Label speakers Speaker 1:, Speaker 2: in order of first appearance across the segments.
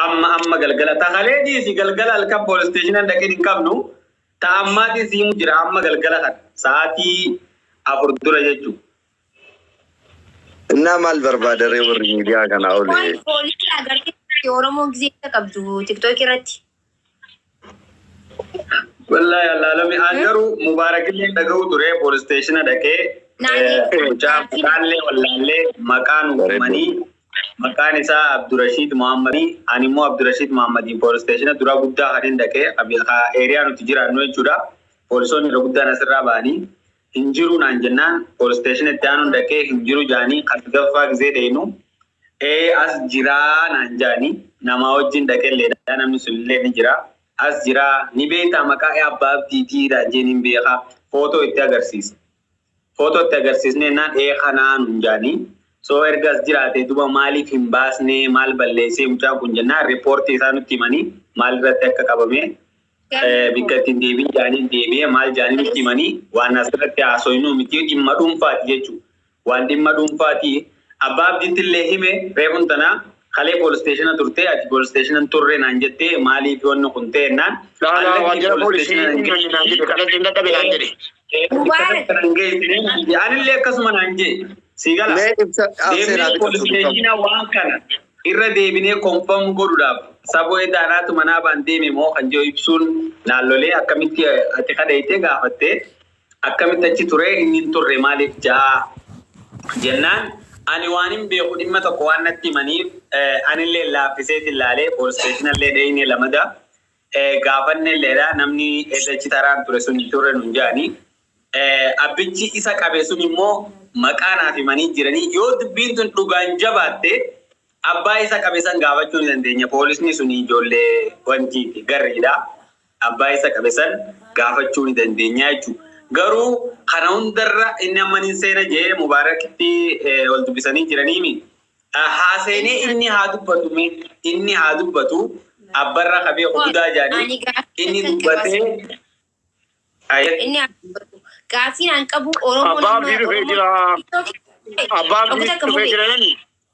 Speaker 1: amma amma galgala ta kalee dhiisi galgala halkan poolis isteeshinaan dhaqeen hin qabnu ta ammaatiin siimu jira amma galgala kan sa'aatii afur dura jechuudha.
Speaker 2: Innaa maal barbaada ree warri miidiyaa kanaa olee? Poolisii agarsiisa
Speaker 3: Oromoo gisee qabdu tiktookii irratti.
Speaker 1: Wallaahi allaalami aan garuu mubaarakillee dhaga'u ture poolis isteeshina dhaqee Naannee- eh, mucaa maqaallee wallaallee maqaa nu uumanii maqaan isaa Abdurashiid Muhammadi ani immoo Abdurashiid Muhammadiin poolis isteeshina duraa guddaa kan hin dhaqee abi- ha- eeriyaa nuti jiraannu jechuudha poolisoonni irra guddaan asirraa ba'anii hin jiru naan jennaan poolis isteeshina itti aanuun dhaqee hin jiru jaanii kan sadaffaa gisee deenu Ee as jiraa naan jaani namaa wajjin dhaqelleedha namni sunillee ni jira as jiraa ni beektaa maqaa Abbaa Abdiitii naan jee nin beeka footoo itti agarsiise footoo itti agarsiisneennaan ee kanaa nuun jaani soo erga as jiraatee duba maaliif hin baasnee maal balleessee mucaan kun jennaan riippoortii isaa nutti himanii maal irratti akka qabamee bikka ittiin deebiin jaaniin deebi'ee maal jaanii nutti himanii waan asirratti haasoynu miti dhimma dhuunfaati jechuu Waan dhimma dhuunfaati. Abbaa Abdiittillee hime, reefun tana kalee polis steeshina turte, ati polis steeshina hin turre naan jette, maaliif wanni kun ta'e jennaan, Laa laa waajjira
Speaker 4: poolisii hin himanne naan jedhe, ofirratti hin dadhabe naan jedhe. Mubaarak.
Speaker 1: Anillee akkasuma naan jedhe. Sii galaa? Mee ibsa Deemnee polis steeshina waan kana irra deebinee confirm godhuudhaaf Sabo Eda anaatu manaa baan deeme moo kan jedhu ibsuun naan lolee akkamitti ati kadhayxee gaafattee Akkamitti achi ture? Inni hin turre maaliif ja'a? jennaan ani waanin beeku dhimma tokko waan natti himaniif anillee laaffiseetin laalee poolisteeshinallee dheeyne lamada gaafannelleedha namni SH taraan ture sun hin turre nun ja'ani. Abbichi isa qabe sun immoo maqaa naaf himanii jiranii yoo dubbiin tun dhugaan jabaatte abbaa isa qabe san gaafachuu ni dandeenya poolisni sun ijoollee wantiiti garriidha. abbaa isa qabe san gaafachuu ni dandeenya jechuudha. Garuu kana hundarra inni amma nin seena jee Mubaarakitti ol dubbisanii jiraniimi. Haa seenee inni haa dubbatu mee inni haa dubbatu abbarra ka beeku budaa jaanii inni dubbatee inni haa
Speaker 3: dubbatu. Gaaffiin an qabu Oromoon Abbaa amma abdii dhufee
Speaker 4: Oromoon jira. TikTok Abbaa abdii dhufee jira jedhani.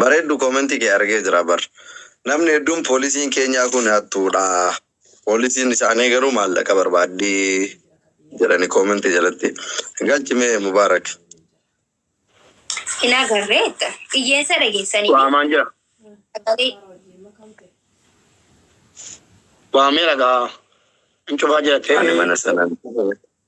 Speaker 2: Bareeddu koomentii kee argee jira bar. Namni hedduun poolisiin keenyaa kun hattuudha. Poolisiin isaanii garuu maallaqa barbaaddi jedhani koomentii jalatti. Galchi mee Mubaarak. Hin
Speaker 3: agarre jetta. Iyyeessa dhageessanii Waamaan jira.
Speaker 4: sagalee Waamee ragaa. Hin cufaa jira Ani ta'e. mana sanan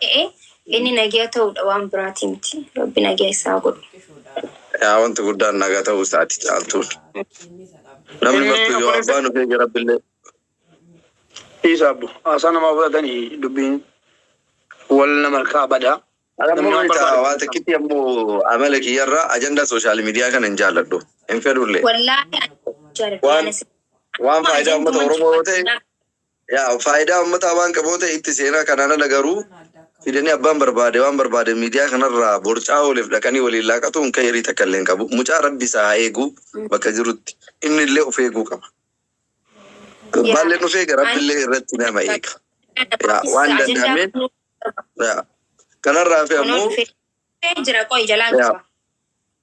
Speaker 3: ta'e inni nagiya ta'uudha waan biraatii miti. Rabbi nagiya issa haa godhu. Yaa
Speaker 2: wanti guddaan naga ta'uu isaati caaltuun. Namni martuu yoo abbaan of eege rabbillee. Dhiisa abbo
Speaker 4: haasaa namaa fudhatani dubbiin wal nama harkaa bada. An ammoo Namni waan beektaa
Speaker 2: barbaadu waa barreessa. takkitti ammoo amala kiyyarraa ajandaa sooshaal miidiyaa kana hin jaalladhu. Hin fedhullee. Wallaahi ani jaaladha
Speaker 3: Waan- yaana si. waan
Speaker 2: faayidaa uummata Oromoo yoo ta'e Yaa faayidaa ummataa waan qabu yoo ta'e itti seenaa kanaan ala garuu fidanii abbaan barbaade waan barbaade miidiyaa kanarraa borcaa ooleef dhaqanii waliin laaqatuun kayrii takka illee hin qabu. Mucaa rabbi isaa haa eegu bakka jirutti inni illee of eeguu qaba. Gurbaan illee of eega rabbi illee irratti nama eega. Yaa waan danda'ameen yaa kanarraa fi ammoo jira
Speaker 3: qoy jalaan yaa qaba.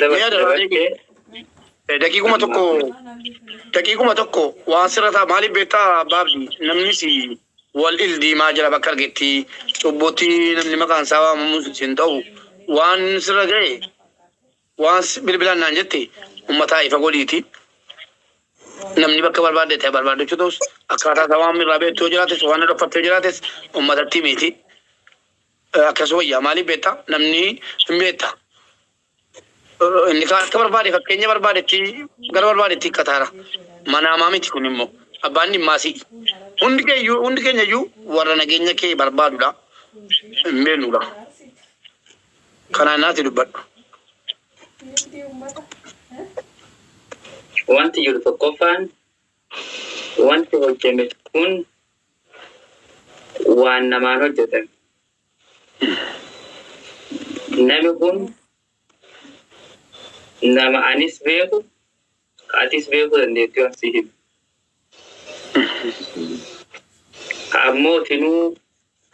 Speaker 1: Mi'a dabalatee
Speaker 4: Eh, daqiiquma tokko daqiiquma tokko waan sirra ta'a maaliif beektaa baabdi namnis wal il diimaa jira bakka argetti cubbutti namni maqaan isaa waamamus isin ta'u waan sirra ga'e waan si- bilbilaan naan jette ummataa ifa godhiiti namni bakka barbaadde ta'e barbaadachuu ta'us akkaataa isaa waan irraa beektuu jiraates waan dhokfattee jiraates ummatatti miti Akkas wayya maaliif beekta namni hin beekta inni kaan akka barbaade fakkeenya barbaadetti gara barbaadetti hikkataara manaamaa miti kun immoo abbaan dhimmaa si'i hundi keeyyuu hundi keenya iyyuu warra nageenya kee barbaadudha hin beeknudha kanaan naati dubbadhu Wanti jiru tokkoffaan
Speaker 1: wanti hojjame kun waan namaan hojjatan. Nami kun nama anis beeku ka atis beekuu dandeettu waan si himu. Ka ammoo tinuu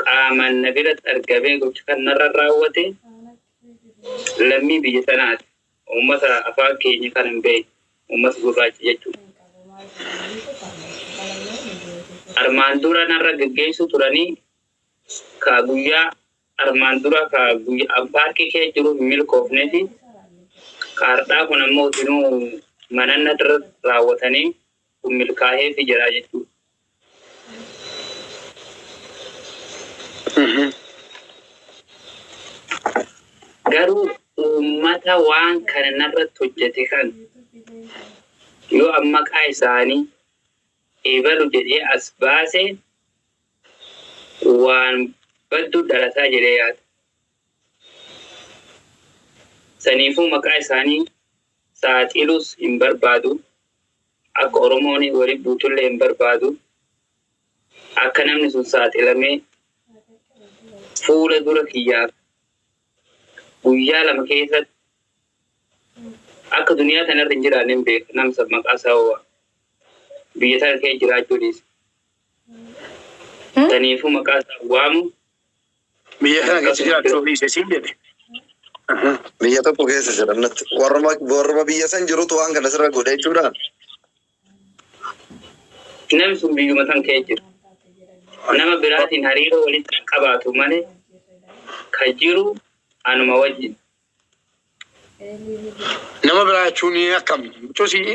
Speaker 1: qaamaan na biratti argamee gocha kan narra raawwate lammii biyya sanaati. Uummata afaan keenya kan hin beekne, uummata gurraacha jechuudha. Armaan dura narra geggeessuu turanii ka guyyaa armaan duraa ka guyyaa an paarkii kee jiru hin milkoofnee fi ka hardhaa kun ammoo utinuu mananna irra raawwatanii kun milkaahee fi jiraa jechuudha. Garuu uummata waan kana narratti hojjate kana yoo an maqaa isaanii ebalu jedhee as baase waan baddu dhalataa jedhee yaada. Saniifuu maqaa isaanii saaxiluus hin barbaadu. Akka Oromooni woli buutulle imbarbaadu, akka namni sun saaxilamee fuula dura kiyyaaf guyyaa lama keessatti akka duniyaa tana irra hin jiraanne hin beeka. Nam san maqaa isaa hoo waama. Biyya tana keessa jiraachuu dhiise. Taniifuu maqaa isaa hin waamu.
Speaker 4: Biyya kana keessa jiraachuu dhiise siin jedhe.
Speaker 2: Biyya tokko keessa jiran natti warruma warruma biyya san jirutu waan kana sirra godha jechuudha. Namni
Speaker 1: sun biyyuma san kee jira. Nama biraatiin hariiroo walitti hin qabaatu malee kan jiru anuma wajjin.
Speaker 4: Nama biraa jechuun akkam?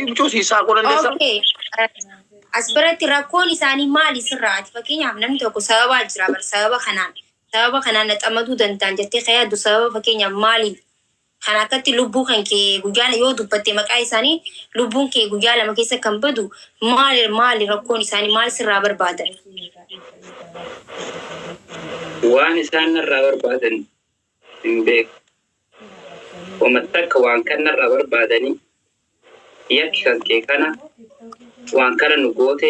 Speaker 4: Mucoo si isaa qoo dandeessa? Okay.
Speaker 3: Uh, As biratti rakkoon isaanii maali sirraati? Fakkeenyaaf namni tokko sababaa jira bar sababa kanaan sababa kanaan na xamaduu danda'an jettee kan yaaddu sababa fakkeenyaaf maali? Kan akkatti lubbuu kan kee guyyaa la- yoo dubbatte maqaa isaanii lubbuun kee guyyaa lama keessa kan badu maali maali rakkoon isaanii maal sirraa barbaadan? Waan isaan
Speaker 1: narraa barbaadan hin beeku. Woma takka waan kan narraa barbaadanii yakki kan kee kana, waan kana nu goote,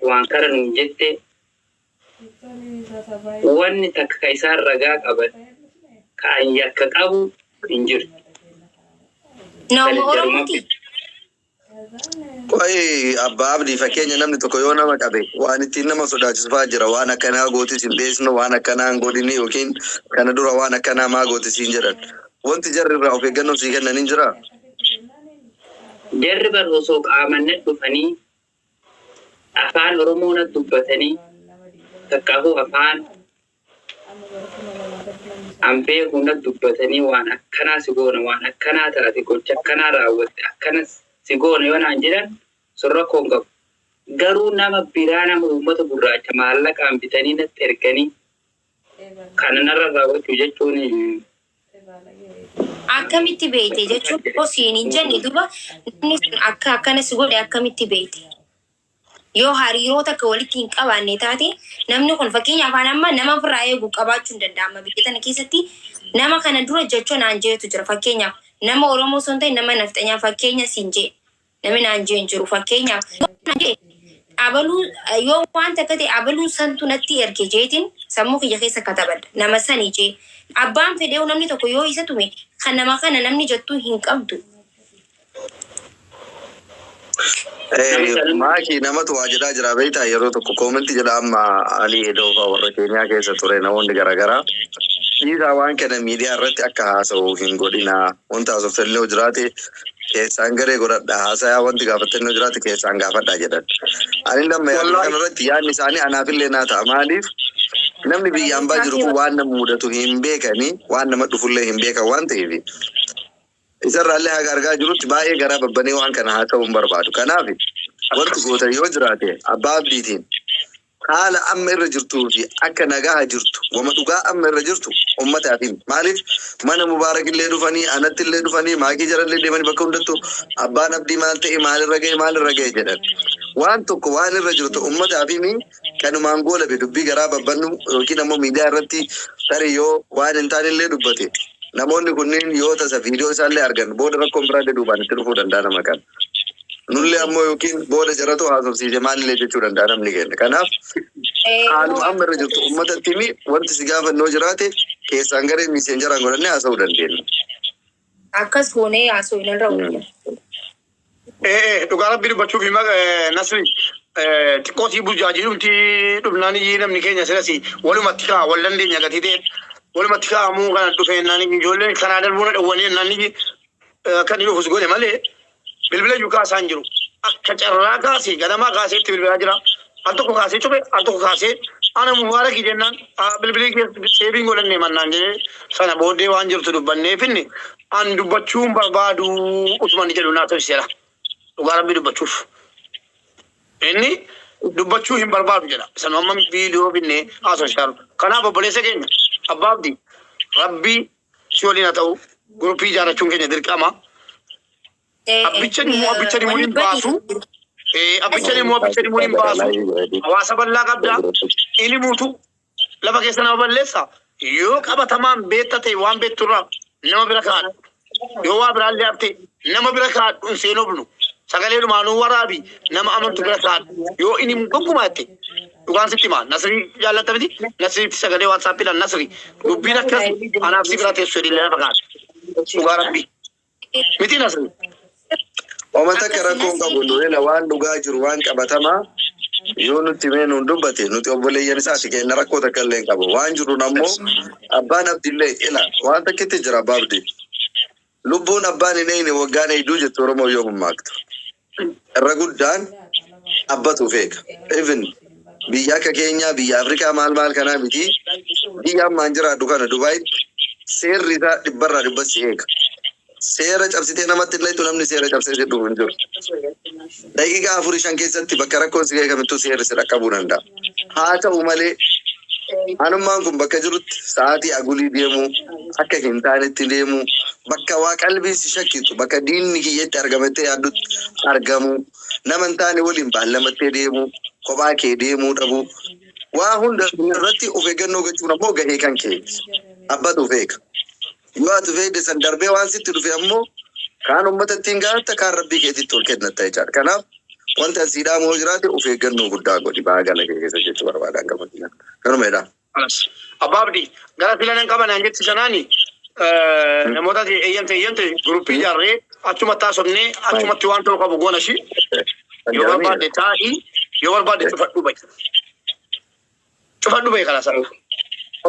Speaker 1: waan kana nuun jette, wanni takka ka isaan ragaa qaban ka an yakka qabu hin jirtu.
Speaker 3: Nauma Oromotii? Qoyi
Speaker 2: abbaa abdii fakkeenya namni tokko yoo nama qabe waan ittiin nama sodaachisu fa'aa jira waan akkanaa gootis hin dheessinu waan akkanaa hin godhini yookiin kana dura waan akkanaa maa goote siin jedhan wanti jarri irraa of eeggannoo sii kennan hin jiraa? Jarri
Speaker 1: bar osoo qaaman nat dhufanii afaan oromoo nat dubbatanii takkaahuu afaan. An beeku nat dubbatanii waan akkanaa si goona waan akkanaa taate gocha akkanaa raawwatte akkana si goona yoo naan jedhan sun rakkoo hin qabu. Garuu nama biraa nama uummata gurraacha maallaqaan bitanii natti erganii kana narra raawwachuu jechuun Akkamitti
Speaker 3: beekte jechuun osoo siin hin jenne duuba namni sun akka akkana si godhe akkamitti beekte? Yoo hariiroo takka walitti hin qabaanne taate namni kun fakkeenyaaf an amma nama ofirraa eegu qabaachuu hin danda'a amma biyya tana keessatti nama kana dura jacho naan jeetu jira fakkeenyaaf nama Oromoo osoo hin ta'in nama nafxanyaa fakkeenya siin jee namni naan jee hin jiru fakkeenyaaf yoo naan jee abaluu yoo waan takka ta'e abaluu santu natti erge jeetiin sammuu kiyya keessa katabadha nama sani jee abbaan fedheewu namni tokko yoo isa tume kan nama kana namni jettuu hin qabdu
Speaker 2: Maaki namatu waa jedhaa jira beektaa yeroo tokko koomenti jedha amma Ali Edoo fa'aa warra Keeniyaa keessa ture namoonni garaagaraa dhiisaa waan kana miidiyaa irratti akka haasa'u hin godhina wanta haasoftanillee yoo jiraate keessaan garee godhadha haasayaa wanti gaafattanillee yoo jiraate keessaan gaafadha jedhan. Ani lamma yaadu Wallaahi. kana irratti yaadni isaanii anaafillee naa ta'a maaliif namni biyya ambaa jiru kun waan nama mudatu hin beekani waan nama dhufullee hin beekan waan ta'eef Isa irraa illee haga argaa jirutti baay'ee garaa babbanee waan kana haasa'uu hin barbaadu. Kanaaf wanti gootan yoo jiraate Abbaa Abdiitiin haala amma irra jirtuu fi akka nagaha jirtu wama dhugaa amma irra jirtu ummataaf himi. Maaliif mana Mubaarak illee dhufanii anatti illee dhufanii maakii jara illee deemanii bakka hundattuu Abbaan Abdii maal ta'e maal irra ga'e maal irra ga'e jedhan. Waan tokko waan irra jirtu ummataaf himi. kanumaan goolabe dubbii garaa babbannu yookiin ammoo miidiyaa irratti tarii yoo waan hin taane illee dubbate namoonni kunniin yoo tasa viidiyoo isaallee argan booda rakkoon biraa illee duubaan itti dhufuu danda'a nama kana. Nullee ammoo yookiin booda jaratu haasofsiise maalillee jechuu danda'a namni keenya. Kanaaf haaluma amma irra jirtu uummatatti himi wanti si gaafannoo jiraate keessaan garee miiseenjaraan godhannee haasa'uu dandeenya.
Speaker 3: Akkas goonee haasofnarra wayya. Ee ee dhugaa
Speaker 4: rabbii dubbachuuf hima eh, nasri eh, xiqqoo sii burjaajii dhumti dhumnaan iyyii namni keenya sirasi walumatti kaa wal dandeenya gatii ta'e walumatti kaa'amuu kana dhufee naan iyyii ijoolleen karaa darbuu na dhowwanee naan iyyii eh, akka inni dhufus godhe malee Bilbilayyuu kaasaa hin jiru. Akka carraa kaasee ganamaa kaasee itti bilbilaa jira. Al tokko kaasee cube, al tokko kaasee ana mubaarakii jennaan "Ah, bilbilii kee seebiin godhannee mannaan jedhee sana booddee waan jirtu dubbannee finne an dubbachuu hin barbaadu utuma inni jedhu naa tolchiseera. Dhugaa rabbii dubbachuuf. Inni dubbachuu hin barbaadu jedha. Isa nu amma viidiyoo finnee haasofsiisaa jiru. Kanaaf obboleessa keenya abbaa abdii rabbii si waliin haa ta'u gurupii ijaarrachuun keenya dirqama. Abbichan immoo abbichan immoo hin baasu. Eh, Abbichan immoo abbichan immoo hin baasu. Hawaasa bal'aa qabda. Ilimuutu lafa keessa nama balleessa. Yoo qabatamaan beekta ta'e waan beekturraa nama bira kaadhu. Yoo waa biraan liyaabte nama bira kaadhu hin seenobnu. Sagalee dhumaanuu waraabi nama amantu bira kaadhu. Yoo inni hin gonkumaa jette Dhugaan sitti himaa nasrii jaallatta miti nasriitti sagalee whatsapp dhaan nasri dubbiin akkas anaaf si bira teessu jedhi lafa kaa'e dhugaa rabbi miti nasri
Speaker 2: Homa takka rakkoo hin qabu Nuhela waan dhugaa jiru waan qabatamaa yoo nutti himee nuun dubbate nuti obboleeyyan isaati keenna rakkoo takka illee hin qabu waan jiruun ammoo abbaan abdillee ila waan takkitti jira abbaa abdii Lubbuun abbaan hin eegne waggaan eegduu jetti Oromoon yoo mammaaktu. Irra guddaan abbatu of eega. Even biyya akka keenyaa biyya Afrikaa maal maal kanaa mitii biyya amma an jiraadhu kana Dubaayitti seerri isaa dhibbarraa dhibbatti si eega. Seera cabsitee namatti hin dhayxu namni seera cabsee si dhufu hin jiru. Daqiiqaa afur shan keessatti bakka rakkoon si ga'e kamittuu seerri si dhaqqabuu danda'a. Haa ta'u malee, anummaan kun bakka jirutti sa'aatii agulii deemuu, akka hin taanetti deemuu, bakka waa qalbiin si shakkitu, bakka diinni kiyya itti argama jettee yaaddutti argamuu, nama hin taane waliin baallamattee deemuu, kophaa kee deemuu dhabuu, waa hunda irratti of eeggannoo gochuun ammoo gahee kan keeti. Abbatu beeka. Yoo ati feede san darbee waan sitti dhufe ammoo kaan ummatatti hin gaatta kaan rabbii keetitti ol kennatta jechaadha. Kanaaf wanti an sii dhaamu yoo jiraate of eeggannoo guddaa godhi bahaa gala kee keessa jechuu barbaadaan gama kiyya. Kanuma jedhaa. Alas. Abbaa Abdii,
Speaker 4: gara filan hin qaban hangetti sanaani namoota eeyyamte eeyyamte guruppii ijaarree achumatti haasofnee achumatti waan ta'u qabu goona shi yoo barbaadde taa'ii yoo barbaadde cufadhu ba'i. Cufadhu bahe kana sarara.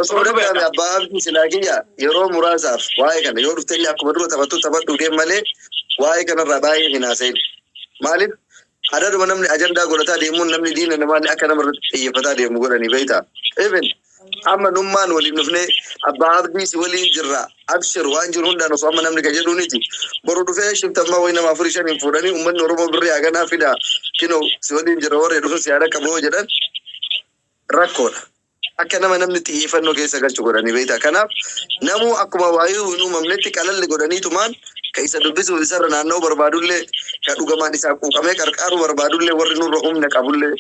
Speaker 4: Osoo danda'ame
Speaker 2: abbaa abdii silaa kiyya yeroo muraasaaf waa'ee kana yoo dhufte illee akkuma dura taphattu taphadhu deem malee waa'ee kanarraa baay'ee hin haasa'in. Maaliif adaduma namni ajandaa godhataa deemuun namni diina namaallee akka nama irratti xiyyeeffataa deemu godhanii beektaa. Even amma nummaan waliin dhufnee abbaa abdii si waliin jirra Abshir waan jiru hundaan osoo amma namni ka jedhuuniti. Boru dhufee shiftammaa wayi nama afurii shaniin fuudhanii ummanni Oromoo birrii haganaa fidaa kinoo si waliin jira warri dhufu si haa dhaqqabu yoo jedhan rakkoodha. Akka nama namni xiyyeeffannoo keessa galchu godhanii beektaa. Kanaaf namuu akkuma waayuu hin uumamnetti qalalli godhaniitumaan ka isa dubbisuuf isarra naanna'uu barbaadullee ka dhugamaan isaa quuqamee qarqaaruu barbaadullee warri nurra humna qabullee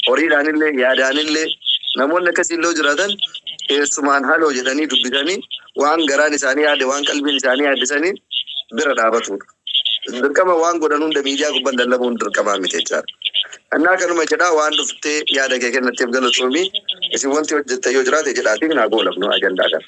Speaker 2: horiidhaanillee, yaadaanillee namoonni akkasii illee yoo jiraatan keessumaan haloo jedhanii dubbisanii waan garaan isaanii yaade, waan qalbiin isaanii yaadde saniin bira dhaabatuudha. Dirqama waan godhan hunda miidiyaa gubbaan lallabuun dirqamaa miti jechaadha. Annaa kanuma jedhaa waan dhuftee yaada kee kennatteef galatoomii isin wanti hojjettan yoo jiraate jedhaatiin haa goolabnu ajandaa kana.